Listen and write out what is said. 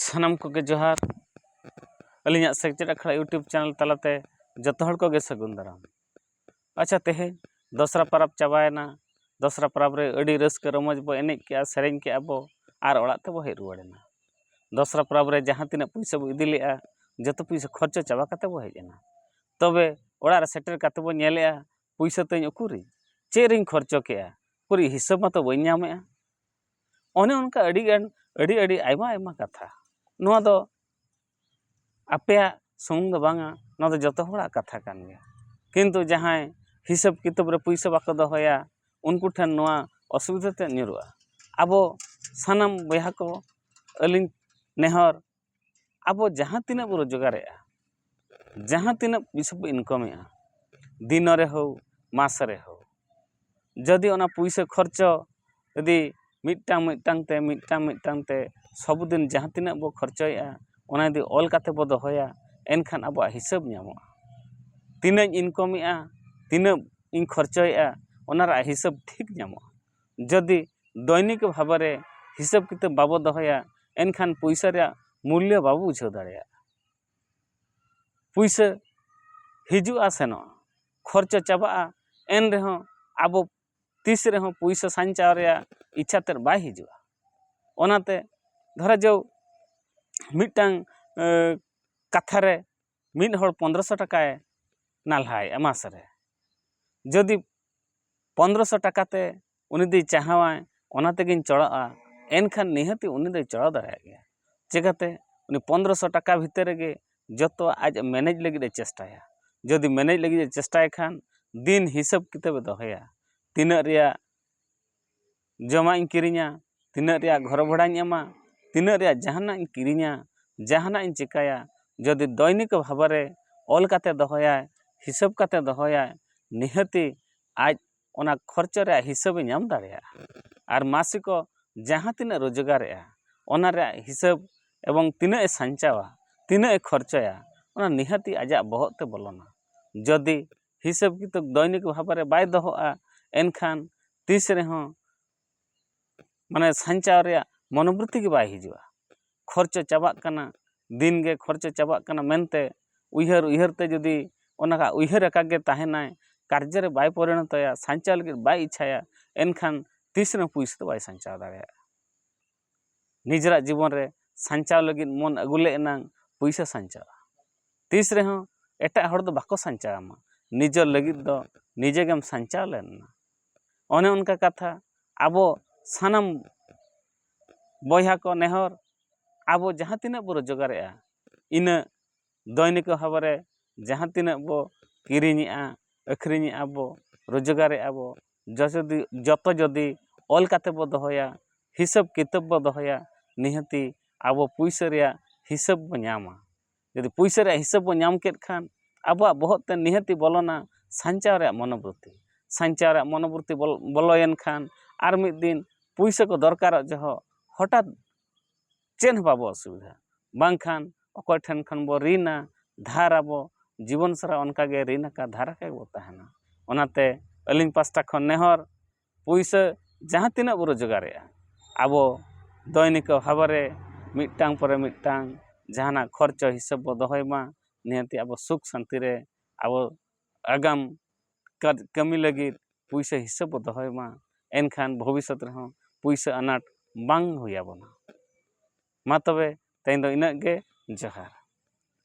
ᱥᱟᱱᱟᱢ ᱠᱚᱜᱮ ᱡᱚᱦᱟᱨ ᱟᱹᱞᱤᱧᱟᱜ ᱥᱮᱪᱮᱫ ᱟᱠᱷᱲᱟ ᱤᱭᱩᱴᱩᱵᱽ ᱪᱮᱱᱮᱞ ᱛᱟᱞᱟᱛᱮ ᱡᱚᱛᱚ ᱦᱚᱲ ᱠᱚᱜᱮ ᱥᱟᱹᱜᱩᱱ ᱫᱟᱨᱟᱢ ᱟᱪᱪᱷᱟ ᱛᱮᱦᱮᱧ ᱫᱚᱥᱨᱟ ᱯᱟᱨᱟᱵᱽ ᱪᱟᱵᱟᱭᱮᱱᱟ ᱫᱚᱥᱨᱟ ᱯᱟᱨᱟᱵᱽ ᱨᱮ ᱟᱹᱰᱤ ᱨᱟᱹᱥᱠᱟᱹ ᱨᱚᱢᱚᱡᱽ ᱵᱚ ᱮᱱᱮᱡ ᱠᱮᱜᱼᱟ ᱥᱮᱨᱮᱧ ᱠᱮᱜᱼᱟ ᱵᱚ ᱟᱨ ᱚᱲᱟᱜ ᱛᱮᱵᱚ ᱦᱮᱡ ᱨᱩᱣᱟᱹᱲ ᱮᱱᱟ ᱫᱚᱥᱨᱟ ᱯᱟᱨᱟᱵᱽ ᱨᱮ ᱡᱟᱦᱟᱸ ᱛᱤᱱᱟᱹᱜ ᱯᱩᱭᱥᱟᱹ ᱵᱚ ᱤᱫᱤ ᱞᱮᱜᱼᱟ ᱡᱚᱛᱚ ᱯᱩᱭᱥᱟᱹ ᱠᱷᱚᱨᱪᱟ ᱪᱟᱵᱟ ᱠᱟᱛᱮᱫ ᱵᱚ ᱦᱮᱡ ᱮᱱᱟ ᱛᱚᱵᱮ ᱚᱲᱟᱜ ᱨᱮ ᱥᱮᱴᱮᱨ ᱠᱟᱛᱮᱫ ᱵᱚ ᱧᱮᱞᱮᱜᱼᱟ ᱯᱩᱭᱥᱟᱹ ᱛᱤᱧ ᱩᱠᱩᱨᱤᱧ ᱪᱮᱫ ᱨᱤᱧ ᱠᱷᱚᱨᱪᱟ ᱠᱮᱜᱼᱟ ᱩᱠᱩᱨᱤᱡ ᱦᱤᱥᱟᱹᱵᱽ ᱢᱟᱛᱚ ᱵᱟᱹᱧ ᱧᱟᱢᱮᱜᱼᱟ ᱚᱱᱮ ᱚᱱᱠᱟ ᱟᱹᱰᱤ ᱜᱟᱱ ᱟᱹᱰᱤ ᱟᱹᱰᱤ ᱟᱭᱢᱟ ᱟᱭᱢᱟ ᱠᱟᱛᱷᱟ ᱱᱚᱣᱟ ᱫᱚ ᱟᱯᱮᱭᱟᱜ ᱥᱩᱢᱩᱝ ᱫᱚ ᱵᱟᱝᱟ ᱱᱚᱣᱟ ᱫᱚ ᱡᱚᱛᱚ ᱦᱚᱲᱟᱜ ᱠᱟᱛᱷᱟ ᱠᱟᱱ ᱜᱮᱭᱟ ᱠᱤᱱᱛᱩ ᱡᱟᱦᱟᱸᱭ ᱦᱤᱥᱟᱹᱵ ᱠᱤᱛᱟᱹᱵ ᱨᱮ ᱯᱩᱭᱥᱟᱹ ᱵᱟᱠᱚ ᱫᱚᱦᱚᱭᱟ ᱩᱱᱠᱩ ᱴᱷᱮᱱ ᱱᱚᱣᱟ ᱚᱥᱩᱵᱤᱫᱟ ᱛᱮᱫ ᱧᱩᱨᱩᱜᱼᱟ ᱟᱵᱚ ᱥᱟᱱᱟᱢ ᱵᱚᱭᱦᱟ ᱠᱚ ᱟᱹᱞᱤᱧ ᱱᱮᱦᱚᱨ ᱟᱵᱚ ᱡᱟᱦᱟᱸ ᱛᱤᱱᱟᱹᱜ ᱵᱚᱱ ᱨᱳᱡᱽᱜᱟᱨᱮᱜᱼᱟ ᱡᱟᱦᱟᱸ ᱛᱤᱱᱟᱹᱜ ᱯᱩᱭᱥᱟᱹ ᱵᱚᱱ ᱤᱱᱠᱟᱢᱮᱜᱼᱟ ᱫᱤᱱᱚ ᱨᱮ ᱦᱳᱠ ᱢᱟᱥ ᱨᱮ ᱦᱳᱠ ᱡᱩᱫᱤ ᱚᱱᱟ ᱯᱩᱭᱥᱟᱹ ᱠᱷᱚᱨᱪᱟ ᱡᱩᱫᱤ ᱢᱤᱫᱴᱟᱝ ᱢᱤᱫᱴᱟᱝ ᱛᱮ ᱢᱤᱫᱴᱟᱝ ᱢᱤᱫᱴᱟᱝ ᱛᱮ ᱥᱚᱵᱽᱫᱤᱱ ᱡᱟᱦᱟᱸ ᱛᱤᱱᱟᱹᱜ ᱵᱚᱱ ᱠᱷᱚᱨᱪᱟᱭᱮᱜᱼᱟ ᱚᱱᱟ ᱡᱩᱫᱤ ᱚᱞ ᱠᱟᱛᱮᱫ ᱵᱚᱱ ᱫᱚᱦᱚᱭᱟ ᱮᱱᱠᱷᱟᱱ ᱟᱵᱚᱣᱟᱜ ᱦᱤᱥᱟᱹᱵᱽ ᱧᱟᱢᱚᱜᱼᱟ ᱛᱤᱱᱟᱹᱜ ᱤᱧ ᱤᱱᱠᱟᱢᱮᱜᱼᱟ ᱛᱤᱱᱟᱹᱜ ᱤᱧ ᱠᱷᱚᱨᱪᱟᱭᱮᱜᱼᱟ ᱚᱱᱟ ᱨᱮᱭᱟᱜ ᱦᱤᱥᱟᱹᱵᱽ ᱴᱷᱤᱠ ᱧᱟᱢᱚᱜᱼᱟ ᱡᱚᱫᱤ ᱫᱚᱭᱱᱤᱠ ᱵᱷᱟᱵᱮ ᱨᱮ ᱦᱤᱥᱟᱹᱵ ᱠᱤᱛᱟᱹᱵ ᱵᱟᱵᱚ ᱫᱚᱦᱚᱭᱟ ᱮᱱᱠᱷᱟᱱ ᱯᱩᱭᱥᱟᱹ ᱨᱮᱭᱟᱜ ᱢᱩᱞᱞᱚ ᱵᱟᱵᱚ ᱵᱩᱡᱷᱟᱹᱣ ᱫᱟᱲᱮᱭᱟᱜᱼᱟ ᱯᱩᱭᱥᱟᱹ ᱦᱤᱡᱩᱜᱼᱟ ᱥᱮᱱᱚᱜᱼᱟ ᱠᱷᱚᱨᱪᱟ ᱪᱟᱵᱟᱜᱼᱟ ᱮᱱ ᱨᱮᱦᱚᱸ ᱟᱵᱚ ᱛᱤᱥ ᱨᱮᱦᱚᱸ ᱯᱩᱭᱥᱟᱹ ᱥᱟᱧᱪᱟᱣ ᱨᱮᱭᱟᱜ ᱤᱪᱪᱷᱟ ᱛᱮᱫ ᱵᱟᱭ ᱦᱤᱡᱩᱜᱼᱟ ᱚᱱᱟᱛᱮ ᱫᱷᱚᱨᱚ ᱡᱳ ᱢᱤᱫᱴᱟᱝ ᱠᱟᱛᱷᱟ ᱨᱮ ᱢᱤᱫ ᱦᱚᱲ ᱯᱚᱱᱫᱨᱚ ᱥᱚ ᱴᱟᱠᱟᱭ ᱱᱟᱞᱦᱟᱭᱮᱜᱼᱟ ᱢᱟᱥ ᱨᱮ ᱡᱩᱫᱤ ᱯᱚᱱᱫᱨᱚ ᱥᱚ ᱴᱟᱠᱟ ᱛᱮ ᱩᱱᱤ ᱫᱚᱭ ᱪᱟᱦᱟᱣᱟ ᱚᱱᱟ ᱛᱮᱜᱮᱧ ᱪᱚᱲᱟᱜᱼᱟ ᱮᱱᱠᱷᱟᱱ ᱱᱤᱦᱟᱹᱛᱤ ᱩᱱᱤ ᱫᱚᱭ ᱪᱚᱲᱟᱣ ᱫᱟᱲᱮᱭᱟᱜ ᱜᱮᱭᱟ ᱪᱤᱠᱟᱹᱛᱮ ᱩᱱᱤ ᱯᱚᱱᱫᱨᱚ ᱥᱚ ᱴᱟᱠᱟ ᱵᱷᱤᱛᱤᱨ ᱨᱮᱜᱮ ᱡᱚᱛᱚᱣᱟᱜ ᱟᱡ ᱢᱮᱱᱮᱡᱽ ᱞᱟᱹᱜᱤᱫ ᱮ ᱪᱮᱥᱴᱟᱭᱟ ᱡᱩᱫᱤ ᱢᱮᱱᱮᱡᱽ ᱞᱟᱹᱜᱤᱫ ᱮ ᱪᱮᱥᱴᱟᱭ ᱠᱷᱟᱱ ᱫᱤᱱ ᱦᱤᱥᱟᱹᱵ ᱠᱤᱛᱟᱹᱵᱮ ᱫᱚᱦᱚᱭᱟ ᱛᱤᱱᱟᱹᱜ ᱨᱮᱭᱟᱜ ᱡᱚᱢᱟᱜ ᱤᱧ ᱠᱤᱨᱤᱧᱟ ᱛᱤᱱᱟᱹᱜ ᱨᱮᱭᱟᱜ ᱜᱷᱚᱨ ᱵᱷᱟᱲᱟᱧ ᱮᱢᱟ ᱛᱤᱱᱟᱹᱜ ᱨᱮᱭᱟᱜ ᱡᱟᱦᱟᱱᱟᱜ ᱤᱧ ᱠᱤᱨᱤᱧᱟ ᱡᱟᱦᱟᱱᱟᱜ ᱤᱧ ᱪᱤᱠᱟᱹᱭᱟ ᱡᱩᱫᱤ ᱫᱚᱭᱱᱤᱠ ᱵᱷᱟᱵᱮ ᱚᱞ ᱠᱟᱛᱮ ᱫᱚᱦᱚᱭᱟᱭ ᱦᱤᱥᱟᱹᱵ ᱠᱟᱛᱮ ᱫᱚᱦᱚᱭᱟᱭ ᱱᱤᱦᱟᱹᱛᱤ ᱟᱡ ᱚᱱᱟ ᱠᱷᱚᱨᱪᱟ ᱨᱮᱭᱟᱜ ᱦᱤᱥᱟᱹᱵᱮᱭ ᱧᱟᱢ ᱫᱟᱲᱮᱭᱟᱜᱼᱟ ᱟᱨ ᱢᱟᱥᱤᱠᱚ ᱡᱟᱦᱟᱸ ᱛᱤᱱᱟᱹᱜ ᱨᱳᱡᱽᱜᱟᱨᱮᱜᱼᱟ ᱚᱱᱟ ᱨᱮᱭᱟᱜ ᱦᱤᱥᱟᱹᱵ ᱮᱵᱚᱝ ᱛᱤᱱᱟᱹᱜ ᱮ ᱥᱟᱧᱪᱟᱣᱟ ᱛᱤᱱᱟᱹᱜ ᱮ ᱠᱷᱚᱨᱪᱟᱭᱟ ᱚᱱᱟ ᱱᱤᱦᱟᱹᱛᱤ ᱟᱡᱟᱜ ᱵᱚᱦᱚᱜ ᱛᱮ ᱵᱚᱞᱚᱱᱟ ᱡᱩᱫᱤ ᱦᱤᱥᱟᱹᱵ ᱠᱤᱛᱟᱹᱵ ᱫᱚᱭᱱᱤᱠ ᱵᱷᱟᱵᱮ ᱵᱟᱭ ᱫᱚᱦᱚᱜᱼᱟ ᱮᱱᱠᱷᱟᱱ ᱛᱤᱥ ᱨᱮᱦᱚᱸ ᱢᱟᱱᱮ ᱥᱟᱧᱪᱟᱣ ᱨᱮᱭᱟᱜ ᱢᱚᱱᱚᱵᱨᱤᱛᱛᱤ ᱜᱮ ᱵᱟᱭ ᱦᱤᱡᱩᱜᱼᱟ ᱠᱷᱚᱨᱪᱟ ᱪᱟᱵᱟᱜ ᱠᱟᱱᱟ ᱫᱤᱱ ᱜᱮ ᱠᱷᱚᱨᱪᱟ ᱪᱟᱵᱟᱜ ᱠᱟᱱᱟ ᱢᱮᱱᱛᱮ ᱩᱭᱦᱟᱹᱨ ᱩᱭᱦᱟᱹᱨ ᱛᱮ ᱡᱩᱫᱤ ᱚᱱᱟ ᱩᱭᱦᱟᱹᱨ ᱟᱠᱟᱫ ᱜᱮ ᱛᱟᱦᱮᱱᱟᱭ ᱠᱟᱨᱡᱚ ᱨᱮ ᱵᱟᱭ ᱯᱚᱨᱤᱱᱚᱛᱚᱭᱟ ᱥᱟᱧᱪᱟᱣ ᱞᱟᱹᱜᱤᱫ ᱵᱟᱭ ᱤᱪᱪᱷᱟᱭᱟ ᱮᱱᱠᱷᱟᱱ ᱛᱤᱥ ᱨᱮᱦᱚᱸ ᱯᱩᱭᱥᱟᱹ ᱫᱚ ᱵᱟᱭ ᱥᱟᱧᱪᱟᱣ ᱫᱟᱲᱮᱭᱟᱜᱼᱟ ᱱᱤᱡᱮᱨᱟᱜ ᱡᱤᱵᱚᱱ ᱨᱮ ᱥᱟᱧᱪᱟᱣ ᱞᱟᱹᱜᱤᱫ ᱢᱚᱱ ᱟᱹᱜᱩ ᱞᱮᱫ ᱮᱱᱟᱝ ᱯᱩᱭᱥᱟᱹ ᱥᱟᱧᱪᱟᱣᱜᱼᱟ ᱛᱤᱥ ᱨᱮᱦᱚᱸ ᱮᱴᱟᱜ ᱦᱚᱲ ᱫᱚ ᱵᱟᱠᱚ ᱥᱟᱧᱪᱟᱣ ᱟᱢᱟ ᱱᱤᱡᱮᱨ ᱞᱟᱹᱜᱤᱫ ᱫᱚ ᱱᱤᱡᱮ ᱜᱮᱢ ᱥᱟᱧᱪᱟᱣ ᱞᱮᱱ ᱮᱱᱟ ᱚᱱᱮ ᱚᱱᱠᱟ ᱠᱟᱛᱷᱟ ᱟᱵᱚ ᱥᱟᱱᱟᱢ ᱵᱚᱭᱦᱟ ᱠᱚ ᱱᱮᱦᱚᱨ ᱟᱵᱚ ᱡᱟᱦᱟᱸ ᱛᱤᱱᱟᱹᱜ ᱵᱚᱱ ᱨᱳᱡᱽᱜᱟᱨᱮᱜᱼᱟ ᱤᱱᱟᱹᱜ ᱫᱳᱭᱱᱤᱠ ᱵᱷᱟᱵᱮᱨᱮ ᱡᱟᱦᱟᱸ ᱛᱤᱱᱟᱹᱜ ᱵᱚ ᱠᱤᱨᱤᱧᱮᱜᱼᱟ ᱟᱹᱠᱷᱨᱤᱧᱮᱜᱼᱟ ᱵᱚ ᱨᱳᱡᱽᱜᱟᱨᱮᱜᱼᱟ ᱵᱚ ᱡᱚᱛᱚ ᱡᱩᱫᱤ ᱚᱞ ᱠᱟᱛᱮᱫ ᱵᱚ ᱫᱚᱦᱚᱭᱟ ᱦᱤᱥᱟᱹᱵᱽ ᱠᱤᱛᱟᱹᱵᱽ ᱵᱚ ᱫᱚᱦᱚᱭᱟ ᱱᱤᱦᱟᱹᱛᱤ ᱟᱵᱚ ᱯᱩᱭᱥᱟᱹ ᱨᱮᱭᱟᱜ ᱦᱤᱥᱟᱹᱵᱽ ᱵᱚ ᱧᱟᱢᱟ ᱡᱩᱫᱤ ᱯᱩᱭᱥᱟᱹ ᱨᱮᱭᱟᱜ ᱦᱤᱥᱟᱹᱵᱽ ᱵᱚ ᱧᱟᱢ ᱠᱮᱫ ᱠᱷᱟᱱ ᱟᱵᱚᱣᱟᱜ ᱵᱚᱦᱚᱜ ᱛᱮ ᱱᱤᱦᱟᱹᱛᱤ ᱵᱚᱞᱚᱱᱟ ᱥᱟᱧᱪᱟᱣ ᱨᱮᱭᱟᱜ ᱢᱚᱱᱳᱵᱨᱤᱛᱛᱤ ᱥᱟᱧᱪᱟᱣ ᱨᱮᱭᱟᱜ ᱢᱚᱱᱳᱵᱨᱤᱛᱛᱤ ᱵᱚᱞᱚᱭᱮᱱ ᱠᱷᱟᱱ ᱟᱨ ᱢᱤᱫ ᱫᱤᱱ ᱯᱩᱭᱥᱟᱹ ᱠᱚ ᱫᱚᱨᱠᱟᱨᱚᱜ ᱡᱚᱦᱚᱜ ᱦᱚᱴᱟᱛ ᱪᱮᱫ ᱦᱚᱸ ᱵᱟᱵᱚ ᱚᱥᱩᱵᱤᱫᱷᱟᱜᱼᱟ ᱵᱟᱝᱠᱷᱟᱱ ᱚᱠᱚᱭ ᱴᱷᱮᱱ ᱠᱷᱚᱱ ᱵᱚ ᱨᱤᱱᱟ ᱫᱷᱟᱨ ᱟᱵᱚ ᱡᱤᱵᱚᱱ ᱥᱟᱨᱟ ᱚᱱᱠᱟ ᱜᱮ ᱨᱤᱱ ᱟᱠᱟᱫ ᱫᱷᱟᱨ ᱟᱠᱟᱫ ᱜᱮᱵᱚ ᱛᱟᱦᱮᱱᱟ ᱚᱱᱟᱛᱮ ᱟᱹᱞᱤᱧ ᱯᱟᱥᱴᱟ ᱠᱷᱚᱱ ᱱᱮᱦᱚᱨ ᱯᱩᱭᱥᱟᱹ ᱡᱟᱦᱟᱸ ᱛᱤᱱᱟᱹᱜ ᱵᱚ ᱨᱳᱡᱽᱜᱟᱨᱮᱜᱼᱟ ᱟᱵᱚ ᱫᱳᱭᱱᱤᱠ ᱵᱷᱟᱵᱮ ᱨᱮ ᱢᱤᱫᱴᱟᱝ ᱯᱚᱨᱮ ᱢᱤᱫᱴᱟᱝ ᱡᱟᱦᱟᱱᱟᱜ ᱠᱷᱚᱨᱪᱟ ᱦᱤᱥᱟᱹᱵ ᱵᱚ ᱫᱚᱦᱚᱭ ᱢᱟ ᱱᱤᱭᱟᱹᱛᱮ ᱟᱵᱚ ᱥᱩᱠ ᱥᱟᱹᱱᱛᱤ ᱨᱮ ᱟᱵᱚ ᱟᱜᱟᱢ ᱠᱟᱫ ᱠᱟᱹᱢᱤ ᱞᱟᱹᱜᱤᱫ ᱯᱩᱭᱥᱟᱹ ᱦᱤᱥᱟᱹᱵ ᱵᱚ ᱫᱚᱦᱚᱭ ᱢᱟ ᱮᱱᱠᱷᱟᱱ ᱵᱷᱚᱵᱤᱥᱥᱚᱛ ᱨᱮᱦᱚᱸ ᱯᱩᱭᱥᱟᱹ ᱟᱱᱟᱴ ᱵᱟᱝ ᱦᱩᱭ ᱟᱵᱚᱱᱟ ᱢᱟ ᱛᱚᱵᱮ ᱛᱮᱦᱮᱧ ᱫᱚ ᱤᱱᱟᱹᱜ ᱜᱮ ᱡᱚᱦᱟᱨ